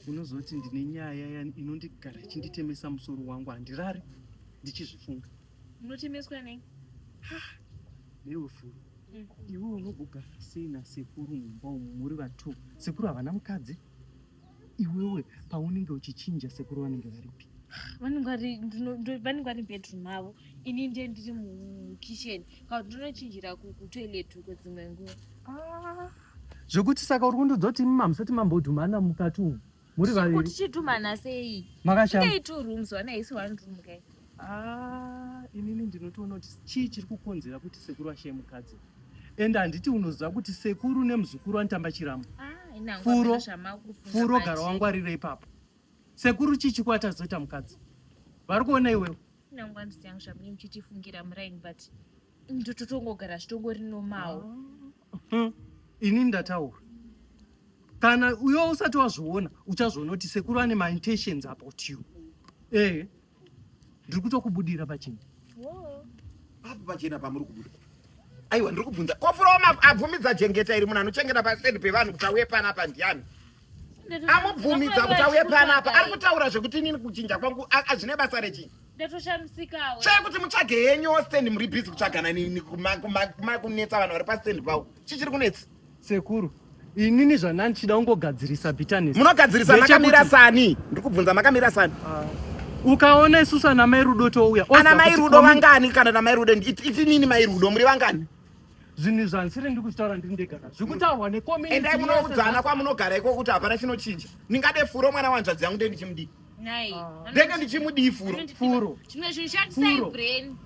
unozoti ndine nyaya inondigara ichinditemesa musoro wangu handirari ndichizvifunga unotemeswa nei newe furu mm. iwe unogogara sei nasekuru mumba umu muri vatu sekuru havana mukadzi iwewe paunenge uchichinja sekuru vanenge varipi vanenge vari mubedroom mavo ini ndiye ndiri mukitchen kaa ndinochinjira kutoilet uko dzimwe nguva ah, zvekuti saka uri kundidzoti imi mamusati mambodhumana mukati umu muri vaviri tichidhumana sei makashaa two rooms wana isi one room kai Ah, inini ndinotoona kuti chii chiri kukonzera kuti sekuru ashaye mukadzi ende handiti unoziva kuti sekuru nemuzukuru anotamba chiramo ah, furo furo gara wangwarire ipapo sekuru chii chikwata zoita mukadzi vari kuona iwewe ndototongogara zvitongori nomawo ah, hmm. inini ndataura kana uyo usati wazviona uchazviona kuti sekuru ane maintentions about you ehe Ndiri kutokubudira pachena. Papi pachena pamuri kubuda? Aiwa ndiri kubvunza. Kofuroma abvumidza jengeta iri munhu anochengeta paside pevanhu kuti auye panapa ndiani? Amubvumidza kuti auye panapa. Ari kutaura zvekuti inini kuchinja kwangu azvine basa rechii? ndatoshamisikawo chai kuti mutsvage henyu stand muri busy kutsvagana kunetsa vanhu vari pastand pavo chii chiri kunetsa Sekuru, inini zvandani chida kungogadzirisa bitterness. Munogadzirisa makamira sani. Ndiri kubvunza makamira sani. Uh, ukaona isusu ana mai Rudo touya. Ana mai Rudo vangani kana na mai Rudo iti nini mai Rudo muri vangani? Zvinhu zvansiri ndiri kuzvitaura ndiri ndega nazvo. Zvikutaurwa ne community. Endai munoudzana kwamunogara iko kuti hapana chinochinja. Ndingade furo mwana wanzvadzi yangu ndiye ndichimudii. ndenge ndichimudii furo furo chimwe chinhu shandisai brain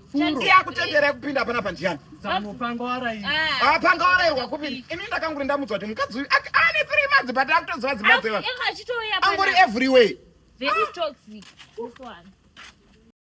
yakutendera kupinda pana pandiyani ah, pangawarairwa kupinda ini ndakanguri ndamudzwa kuti mukadzi uyu ane three months but akutoziva dzimba dzeva angori everywhere Very ah. toxic. This one.